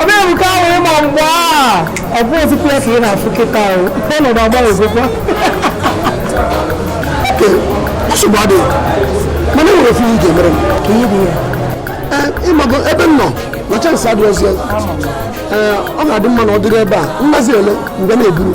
ọ bịa bụ ka ahụ ịma mgbe a ọ bụ ozikwu ya ka ị na-afụ kịta ahụ ọnọdụ agbanwezikwa nsogbu adịghị mana enwere ofu ihe ị ga-emere m ka ihe dị ya ịmago ebe m nọ na chance adịghị ọzọ ọ ga-adị mma na ọ dịrị ebe a mmazi ele mgbe na-eburu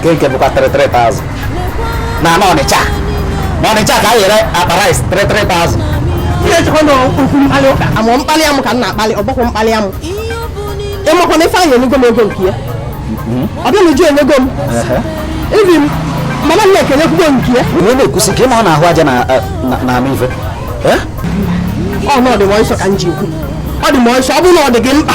nke nke bụkwa 3,000 na na ọnịcha na ọnịcha ka anyị yere akpa rice 3,000 i chekwa na okwu mkpali ụka amụ mkpali amụ ka m na-akpali ọgbakwa mkpali amụ ịmakwa na ifeanyị enyego m ego nke ya obianuju enyego m even madam nneka enyekwugo nke ya onye na-ekwusi ka ị ma ọ na-ahụ aja na- na- na anụ ife Eh? ọ na ọ dị m ọsọ ka m ji ekwu ọ dị m ọsọ ọ bụrụ na ọ dị gị mkpa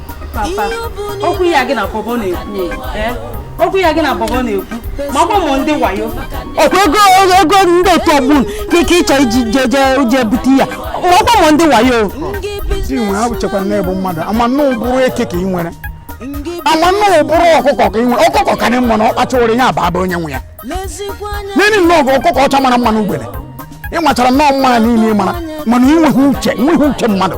papa okwu ya gị na bọbọ na-ekwu eh? okwu ya gị na bọbọ na-ekwu ma ọ bụ ndị wayo ọkwa ego ego ndị otu ọgbọ ka ike ịchọ iji je bute ya ma ọ bụ ndị wayo i nwere ha chekwara na ị bụ mmadụ ama m na ọ ụbụrụ eke ka ị nwere ama m na ọ ụbụrụ ọkụkọ ka ị nwere ọkụkọ ka dị mma na ọ kpachawara ihe ababa onye nwe ya nne ị nnọọ bụ ọkụkọ ọcha mara mma n'ugbene ị machara nnọọ mma niile ị mara mana ị nweghị uche nweghị uche mmadụ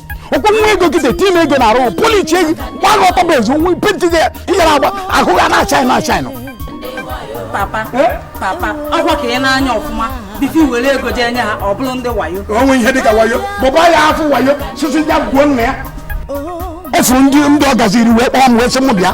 ọkwa nwa ego kịta eti ime ego na-arụ police eji gị gbaa gị ọtọ bụ ezi onwe penti gị ịyara agba ahụ gị na-achaị na achaị nọ papa papa ọkwa ka ị na-anya ọfụma before ị were ego jee nye ha ọ bụrụ ndị wayo o nwe ihe dịka wayo baba ya afọ wayo sisi ya gwuo nna ya efuru ndị ndị ọ gaziri wee kpọọ m wee sị m bịa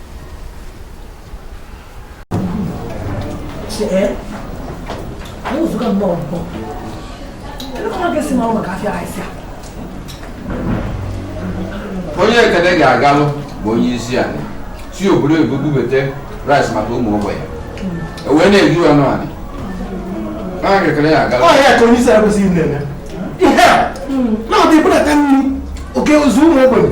onye ekene ga-agalụ bụ onye isi anyị si obodo oyibo bubata rice maka ụmụ ogbenye e wee na-ere ya ọnụ anị onye ekene ga-agalụ ọ ya ka onye isi a kwesịrị na-eme ihe a na-abịa ebudata nri o kezuo ụmụ ogbenye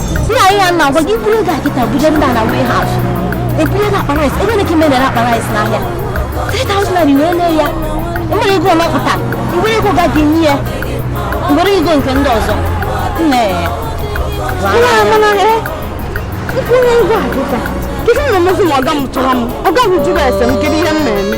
nne ihe a m na-agwa gị buru ego a kịta buje ndị a na warehouse ebunye gị akpa rice ebe na-eke mere akpa rice n'ahịa 3000 naira wee lee ya ị were ego ọ mapụta ị were ego ọga gị nye ya ị were ego nke ndị ọzọ nne mana m buru ego a kịta kịta na-emezi ma ọga m chọrọ m ọga m jụrụ ese m kedu ihe m na-eme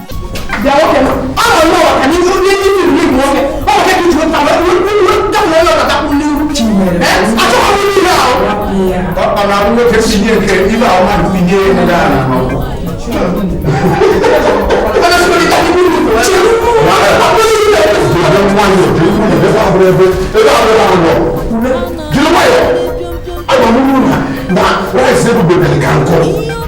Jiri nwayọọ, agwa m unu na na rice ebube ka nkụ.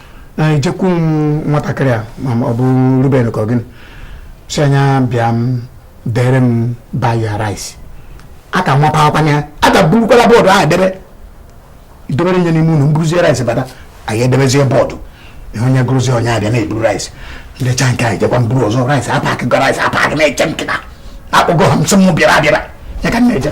anyị jekwu nwatakịrị a ma ọ bụ Ruben ka ọ gịnị sị ya bịa dere m buy your rice here ka m mapakwana ya a ka burukwala board ahụ debe idobere ihe n'ime ụnọ m buruzie rice bata anyị edebezie board ihe onye gụrụzie onye abịa na-eburu rice erechaa nke a anyị jekwa buru ọzọ rice apakịgo rice apakị na-eche m kịta akpọgo ha m sị m bịara abịara ya ka m na-eje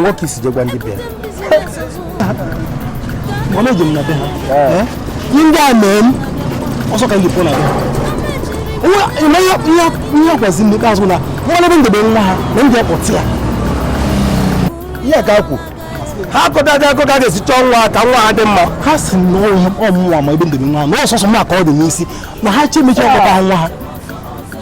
nwoke i si je gwa ndị be m na e ji m na be ha eh. Eh? ihe ndị a mee m ọsọ ka m ji pụọ na be ha ihe agwazi m ikpeazụ na m manụ ebe m debe nwa ha na m je kpọte ya ihe ka kwu ha akọta gị akọ ka ga-esi chọọ nwa ka nwa ha dị mma ha sị na ọ mụnwa ma ebe m debe nwa ha na ọ sọsọ m ka ọ dị n'isi na ha che m echi ịkpọta nwa ha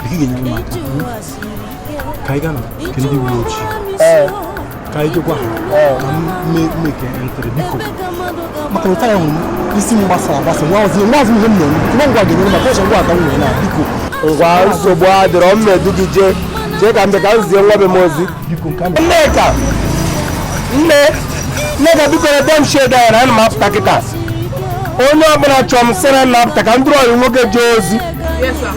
Kadi gị nyere m aka. Ka anyị gaa na nke ndị uwe ojii. Ka anyị jekwa ha. Ka m mee make entry biko. Maka na otu a ị hụrụ m isi m gbasara agbasa amarọzị m amarọzị m ihe m na-eme. Nwa ngwa ga-enyere m aka ọsọ ngwa aga nwere na biko. ngwa nsogbu adịrọ m na-edu gị jee chee ka m bịa ka m zie nwa be m ozi Biko nke a na- Nneka nne Nneka biko nebe m shed a anya na ana m apụta kịta onye ọbụla chọrọ m sị na m na-apụta ka m duru ọyị m nwoke jee ozi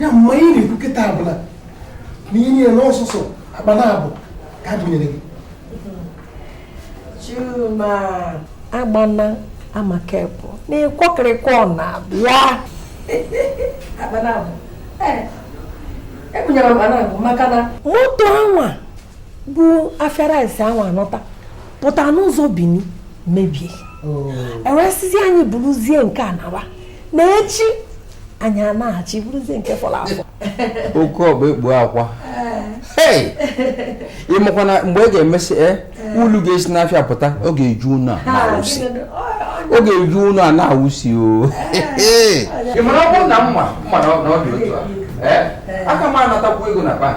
ya mma ihe ị na-ekwu kịta a bụ na ihe niile na ọ sọsọ akpa naabọ ka e bunyere gị Chuma agbana amaka bụ n'ịkwọkịrịkwọ na-abịa akpa naabọ ee ebunyere m akpa naabọ maka na moto anwa bu afịa rice ahụ anata pụta n'ụzọ Bini mebie oh. e wee sịzi anyị buruzie nke a nawa na echi anyị anaghachi buruzie nke fọrọ afọ oke ọgba ekpu akwa ị makwa na mgbe ị ga-emesị e ulu ga-esi n'afịa pụta ọ ga-eju ụlọ a na-awụsi ọ ga-eju ụlọ a na-awụsi o ị mara ọ bụrụ na m ma na ọ dị otu a aka m anatakwu ego na bank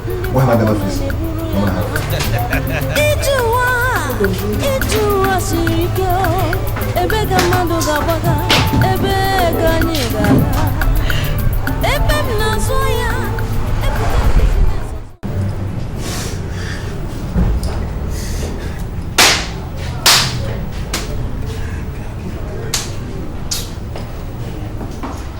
Gwa ha gana fisi. Ije ụwa ije ụwa siri ike ebe ka mmadụ ga-agbaga ebe ka anyị ga-aga ebe m na-azụ ya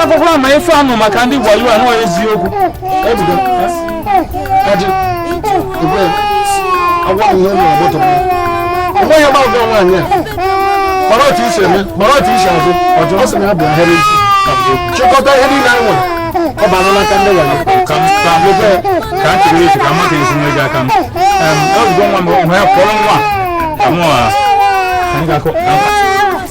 akwụkwọ ama ife anụ maka ndị wayo anụ eziokwu ebugo kaji igwe agwa m ihe ụlọ ọgbọtọ ọgbọ ya gbagọ nwaanyị a mara otu e si eme mara otu e si azụ ọjọ ọ sị na ya bụ ahịrị isi chịkọta ihe niile anyị nwere ọ bara n'aka ndị wayo ka m ka m ebe ka m chịrị echi ka m mata ezi nwe gị aka m ebugo nwa m hụ ya kpọrọ nwa ka mụ a ka m ga-akụ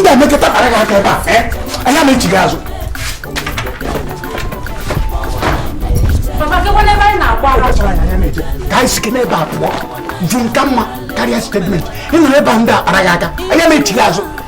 m ga-emekọta kpara gị aka ebe a eh? anya m echi gị azụ ka anyị sike n'ebe a pụọ jun ka mma karịa statement ị nọrọ ebe a ndị a kpara gị aka anya m echi gị azụ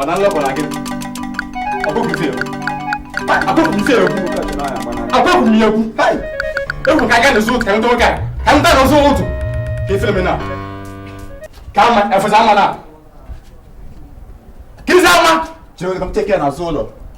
ọ na nlọpụ na gị ọkụkụzi egwu akụkụzi egwu akụkụ m egwu egwu ka aga na-ezu ka ndị oge a ka ndị na-ezu ụtụ ka efere m na ka ama efesa ama na ka izi ama chere ka m teke na azụ ụlọ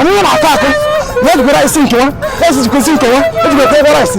Ọmụnwa na-akọ akụ na ejikwa rice nkewa, esi jikwa esi nkewa, ejikwa ekwe rice.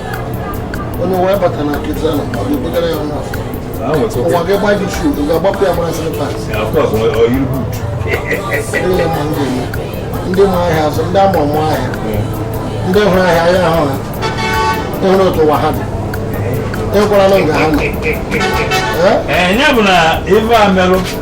onye wee bata na nkịtị ahụ ọ ga-ebugara ya nwa afọ ụwa gị gba gị shu ị ga-agbapụ ya gbara slipas niile ma ndị eme ndị ma ahịa azụ ndị ama ọmụ ahịa ndị hụrụ ahịa ahịa ahụ ha ịhụrụ otu ụwa ha dị ịkwara na nga ha nọ ya bụ na ife a merụ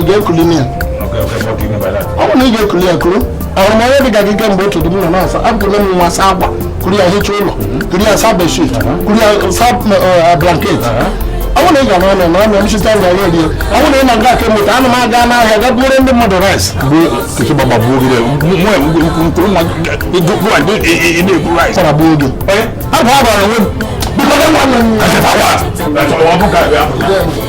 ị ga-ekuli m ya ọ bụ na ị ga-ekuli ya kuru ahụrụ m onye dị ka gị kemgbe ụtụtụ m nọ na-asa ekuru m nwa asa akwa kuru ya hicha ụlọ kuru ya sa bedsheet kuru ya sa blanket ọ bụrụ na ị ga n'ọnụ na ọnụ nchịta ga ya eri ọ bụrụ na ị na-aga aka moto ana m aga n'ahịa ga buru ndị mmadụ rice tọrọgbu oge abụ agbara onwe m biko na nwa nọ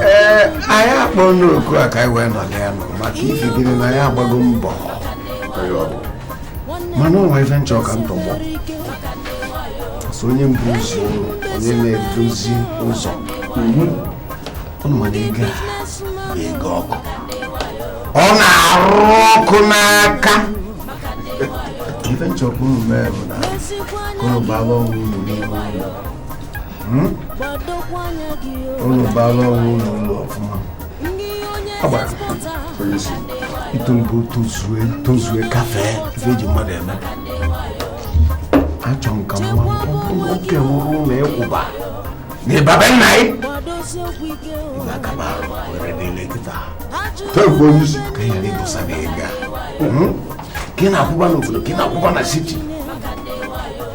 ee anyị akpọ n'oku a ka anyị wee nọdụ ana maka ifi gịnị na anyị agbago mbọ mana o nwe ife m chọ ka m tọgbọ so onye mbụ ụzọ ụlọ onye na-eduzi ụzọ ụnụ ma na ego a bụ ego ọkụ ọ na-arụ ọkụ n'aka ife m chọ ka unu mee bụ na ka ụnụ gbaba onwe unu n'ime ụlọ hmm? unu baala ọrụ ụlọ ụlọ ọfụma agbara itoligo tozue tozue kafee ife eji mmadụ eme achọ m ka nwa nwoke nwụrụ na ịkwụba na ịbabe nna ị ga-akaba arụ were dịle kịta tebụ onye isi ka ya na-ebusa na ịga ka ị na-akwụba n'obodo ka ị na-akwụba na siti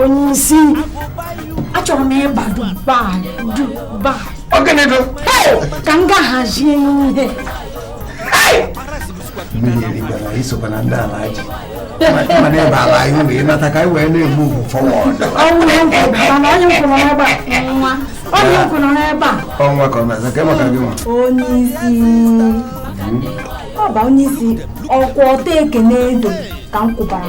onye isi achọrọ m ịba Dubai Dubai ka m ga hazie ihe mmiri erikwana isokwa na ndị Alhaji mana ebe ala anyị wee nata ka anyị wee na-egbu ugwu fọwọd ọnwa ka ọ na-aza ka maka gị nwa onye isi ọ bụ onye isi ọkwa ọta ekene edo ka m kwụbara